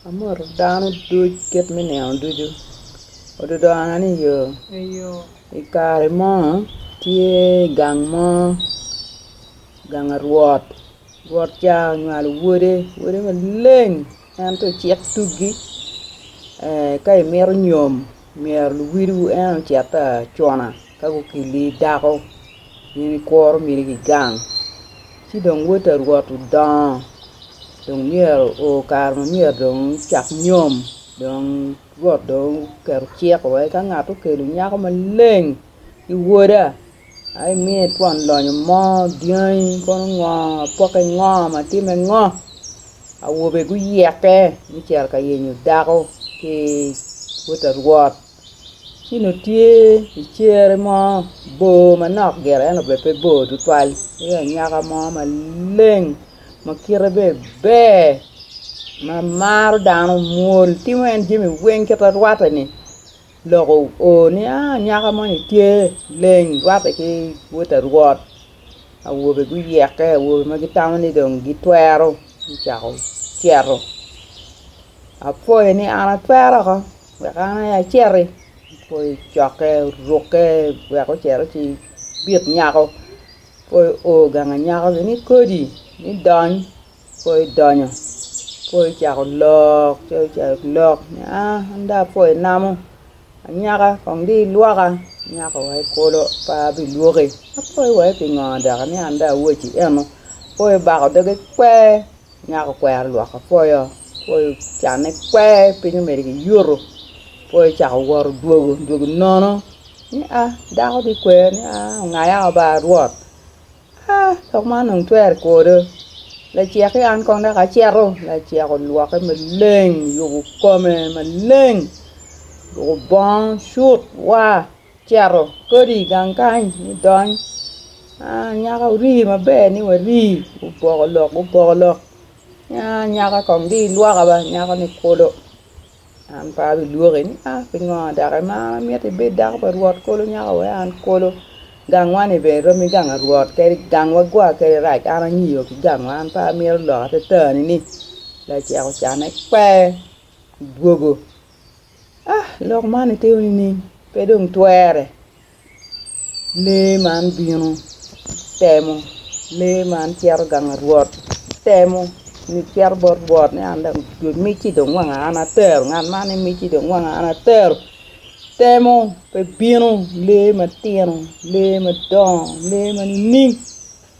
Amoto dano duc kit me nino ducu, ododona ni yo. I kare mo tye gang mo, gang arwot, rwot ca onywalo wode, wode maleng en tye ocit tuggi ka imito nyom myero luwil wu en ocit acuna. Ka gukilli dako gin ikuro myero gigang ci dong wod pa rwot odongo dong myero o kare ma myero dong ocak nyom dong rwot dong oketo cik wai ka ngat okelo nyako maleng ki woda ai imiye twon lonyo mo dyangi kono ngo apoke ngo matime ngo awobe guyeke me cito ka yenyo dako ki wod pa rwot. ci nongo tye i cere mo bor manok gire ento bene pe bor tutwal tye anyaka mo maleng ma kite bene ber ma maro dano mwol timo en jami weng kite rwateni lok oo ni anyaka moni tye leng rwate ki wota rwot awobe guyeke awobe ma gitamo ni dong gitwero gucako cito apwoyo ni an atwero oko. Wek an aye aciti i cokke, rukke wek ocito ci bit nyako. Ka oo gang anyaka gin ni kodi ni dony, ka idonyo ka icako lok ci ocako lok ni aa an dong apwo i namo anyaka kong dong ilwoka, nyako wa i kulu pe abilwoki. Apwoyo wai pingo dok ni an dong awoci eno, apwoyo bako doge kwer. Nyako okwero lwoko apoyo, apoyo ocanne kwer piny omedo ki yuto, apoyo ocako wot odwogo, odwogo nono ni aa dako dong ikwer ni aa ongaya oo ba rwot aa lok man dong twerre kwodo lacek ki an kong dok aceto, lacek olwoke maleng oyubo kome maleng oruko bongo cut waa cito kodi i gang kany idony nyaka wuri maber ni wari oboko lok oboko lok nyaka kong dong ilwok ba nyako ni kulu an pe abilwoki ni a pingo dok imara mit ibed dako pa rwot kulu nyako wai an kulu gangwa ni bene romo ki gang pa rwot kadi gangwa gwa kadi rac an anyiyo ki gangwa an pe amito lok atatani ni lacek ocane pe dwogo. Ah, lok man itimo nining? Pe dong twere. Lee man bino, temo. Lee man cito gang rwot, temo. Ni cito bot rwot ni an dong imiti dong wanga an atero, ngat man imiti dong wanga an atero. Temo, pe bino. Lee matino, lee madongo, lee ma nining?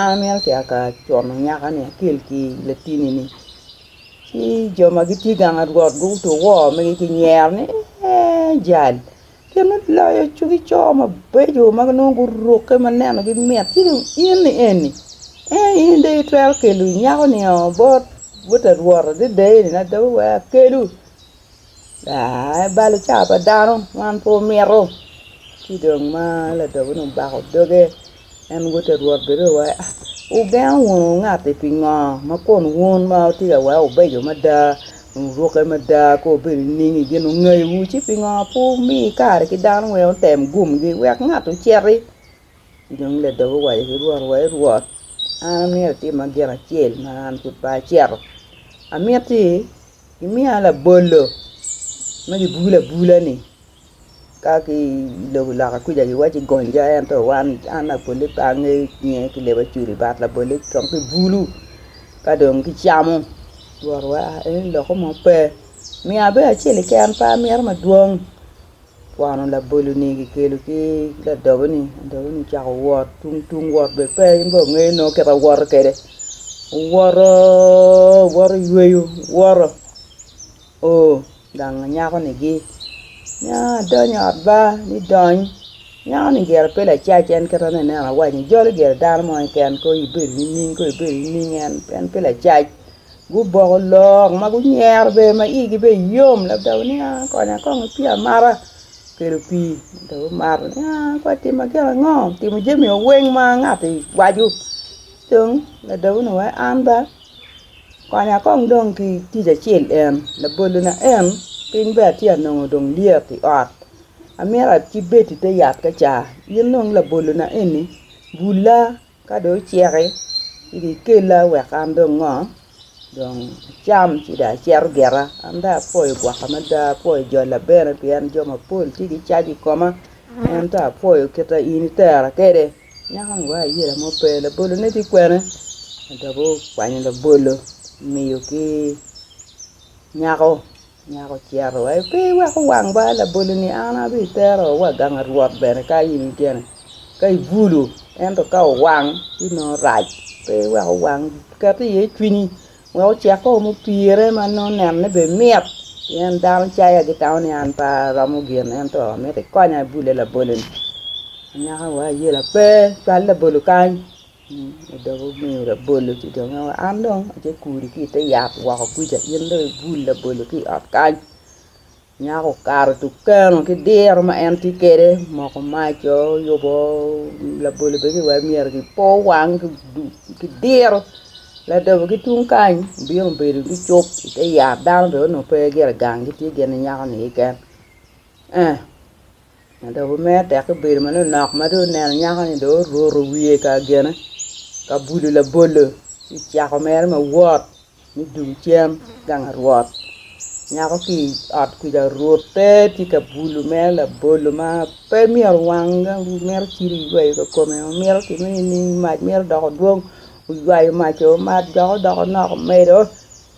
An myero acia ka como nyaka-ni akel ki latini-ni, ci jo ma gitye gang pa Rwot guto wor magi ki nyero ni, Ee, jal gin ma oloyo cogi co mabeco ma nongo gurukke ma nenogi mit, ci dong in-ni eni, ee in dong itwero kelo nyako-ni bot bot Rwot adada eni ni adada wek akelu? Aa, balo ca pa dano man pe omito. Ci dong ma ladogi-ni obako doge, en woto ki i rwot bene dong wai, Wugeno wunu ngat-ti pingo ma kun wun ma wutye ka weko wubeco mada, wurukke mada ka wubedo i ninggi gin ongayowu, ci pingo pe wumi kare ki dano wek otem gumgi wek ngat ociti? Ci dong ladogi owaco ki rwot ni, wai Rwot, an amito itimma gin acel ma an pud pe acito, amitti Imiya labolo ma gibulo abula ni ka ki lobo loka kuca giwaci gonja ento wan an labole pe angeyo cinge ki leb acweli but labole kong ki bulu ka dong ki camo rwot wa en loko mo pe miya bene acel keken pe amito madwong Kwano laboloni kikelo ki ladoboni, ladoboni ocako wot tung tung wot bene pe in dong ongeyo nongo kit ma woto kwede owoto owoto oyweyo owoto oo dang nyakoni gi nya adonyo i ot ba ni dony nyakoni gire pe lacac en kit ma aneno ni awaco-ni jalo gire dano mo keken ko ibedo nining ko ibedo nining en pe lacac. Guboko lok ma gunyero bene ma igi bene yom ladawa ni aa konya kong gipye amata kelo pii ento gumato ni aa pe atima gin ango timo jami wa weng ma ngati waco dong ladawa ni wai an ba konya kong dong ki tic acel en labolo na en piny bene atye ka nongo dong lyet i ot amito acibed ite yat ka ca in dong labolo na eni bula Ka dong oceki, ci dong ikella wek an dong ngo dong acam ci dong acito gita. An dong apwoyo gwok mada, apwoyo jolla bene pien jo mapol tye gicajo i koma. Ento apwoyo kit ma in itera kwede, nyako ni wa ayela mo pe, labolone dong ikwene? Adok gukwanyo labolo omiyo ki nyako. Nyako ocito wa, Pe iweko wang ba, laboloni an abitero wa ganga Rwot bene ka in ikene ka ibulu, ento ka owang ci nongo rac. Pe iweko wang ket iye cwinyi wek ocek o mupire ma nongo nenne bene mit, pien dano caya gitamo ni an pe aromo gin ento amito ikonya ibule laboloni. Anyaka wa ayela, Pe, cwal labolo kany. I dog omiyo labolo ci dong en aye an dong atye kudi ki i te yat woko kuca in dong ibul labolo ki i ot kany nyako okato tung keno ki diro ma en tye kwede omoko mac o oyubo labolo bene ki wai myero ki po wang ki diro ladobo ki tung kany obino obedo ni cuk i te yat dano bene onongo pe gire gang gitye gin ki nyako-ni keken. Ma dok omer tek ki bedo manok nok ma dong oneno nyako-ni dong oruto wiye ka gine ka bulo labolo ci cako mere ma wot me dun cen gang arwot. Nyako ki i ot kwija orute tye ka bulo mere labolo ma pe myero wang dong mito ciro iywayo ka kome mito kiti nining mac mito doko dwong oywayo mac-co mac dok odoko nok omedo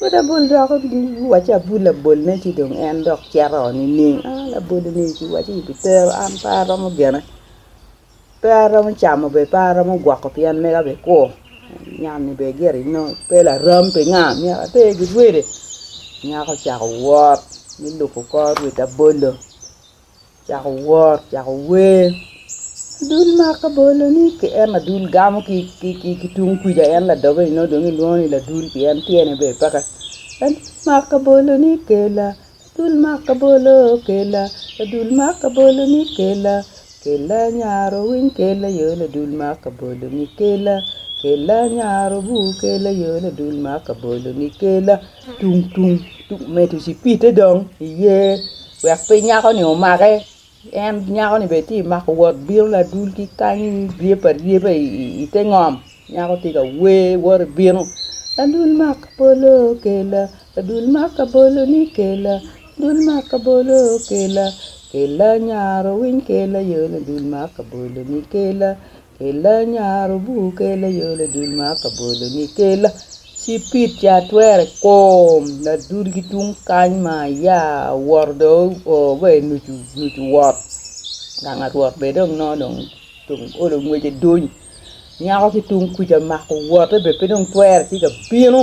Wot abol dok iwaci abol labolone ci dong en dok cito oo nining? Aa laboloni ci iwaci ibi tero an pe aromo gene, pe aromo camo bene pe aromo gwoko pien mega bene kur nyan-ni bene gire inongo pe laram pinga myero ater gi rwede, nyako ocako wot me lubo kor rwed abolo. Cako wor, cako wer. Adul maka boloni ki en adul gamo ki ki tung kuca en ladoge ni nongo dong ilwongo ni ladul pien tyene ber peke en maka boloni kela adul maka bolo kela adul maka boloni kela, kela nyar owiny kela aye ladul maka boloni kela, kela nyar obur kela aye ladul maka boloni kela. Tung tung tung medo cipidde dong i yer wek pe nyako ni omake en nyako ni bene tye mako wot bino ladul ki kany ryeb aryeba i te ngom nyako tye ka wer woto bino adul mak abolo kela adul mak abolo ni kela adul mak abolo kela kela nyare owiny kela yo ni adul mak abolo ni kela Kela nyaro bur kela yo ladul ma ka bolo ni kela cipid ca twere kom ladul ki tung kany ma aya awoto do o wa i nucu nucu wot gang arwot be dong nongo dong dong olo ngwece duny nyako ki tung kuca mako wote be pe dong twere ci ka bino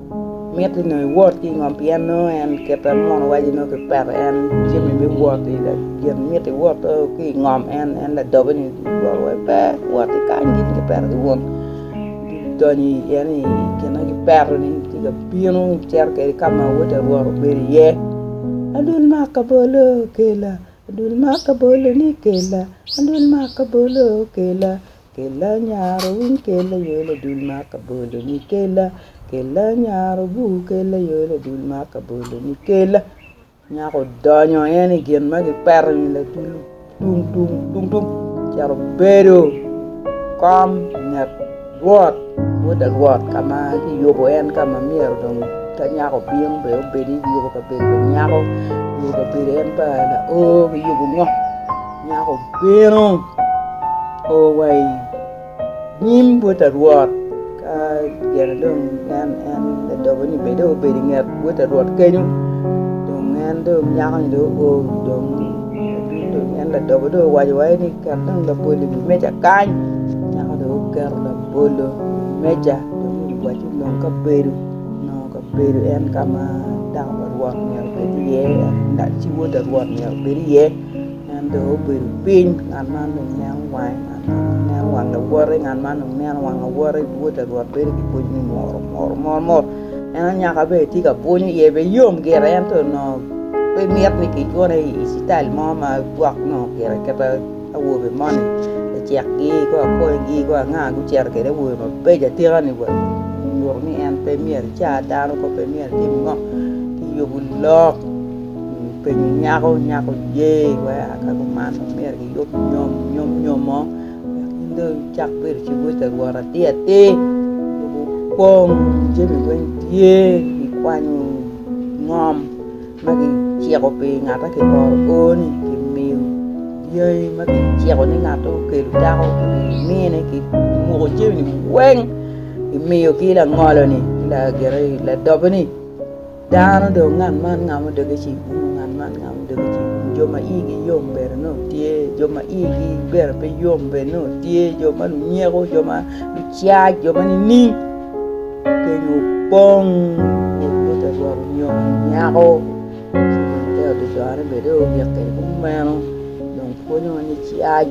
mitte nongo iwot ki i ngom pien nongo en kit ma muno waco ni nongo kipeto en jami me wot gin mitte iwot ki i ngom en en ladobe ni wot wai pe wot ki kany gin kipeto ki wun idonyo i ye ni gin ma kipeto ni tye ka bino icito kwede ka ma wod awor obedo iye adul mak labolo kela adul mak labolo ni kela adul mak labolo kela Kella nyaro winy kella aye ladul ma kaboloni kella kella nyaro bur kella aye ladul ma kaboloni kella nyako odonyo en i gin ma kipeto ni ladul tung tung tung tung ocito obedo i kom nget rwot modo rwot ka ma kiyubo en ka ma myero dong ka nyako obino be obedi kiyubo kabedo pa nyako kiyubo kabedo en pa laoo kiyubo ngo Nyako bino o wa i nyim bot a Rwot. Ka gene dong nen en ladobo ni bene dong obedo i nget bot a Rwot kenyo, dong en dong nyako ni dong o dong dong en ladobo dong owaco wa ni ket dong labolo i wi meja kany. Nyako dong oketo labolo i wi meja dong owaco ni nong kabedo nongo kabedo en ka ma dako pa Rwot myero obed iye, en ci wot a Rwot myero obed iye. En dong obedo piny, ngat man dong neno wange, ngat man dong neno wang lawote, ngat man dong neno wang lawote, wota rwot bedo ki pwoc me muru muru muru muru, en anyaka bene tye ka bwunyo iye bene yom gire ento onongo pe mit ni kicwone i cital mo ma gwok nongo gire aketa awobe moni lacekgi ki akwanygi ki anga gucito kwede awobe mabeco atika-ni wa nyuto ni en pe myero ecar dano kop pe myero etim ngo kiyubo lok. Openyo nyako, nyako oye wai aa ka kuman omyero giyub nyom, nyom nyomo wek in dong icak bedo cibwec pa Rwot atir atir. Lobo opong, jami weng tye, kikwanyo ngom ma kiciko pi ngatte kioro oo-ni kimiyo dyangi ma kiciko ni ngatte okelo dako ki mine kimuko jami-ni weng kimiyogi langolo-ni ki ladobo-ni. Dano do, ngat man ngamo doge ci igumo, ngat man ngamo doge ci igumo. Jo ma igi yom bene nongo tye, jo ma igi bene pe yom bene nongo tye, jo ma lunyeko, jo ma lucac, jo ma nining? Keny opong, rwod moje rwot onyongo nyako ci dong te oto corone bene dong ogik kwede kumeno, dong pwonyo wa ni cac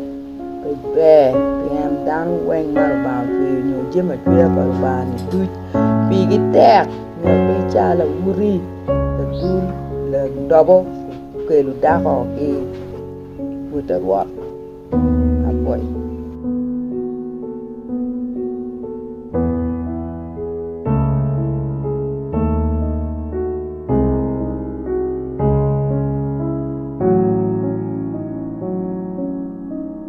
pe ber pien dano weng ma Lubanga ocweyo nyo jami acweya pa Lubanga-ni duc. Pigi tek nyo pe cal awuti ladul ladobo okelo dako ki wota rwot apoyo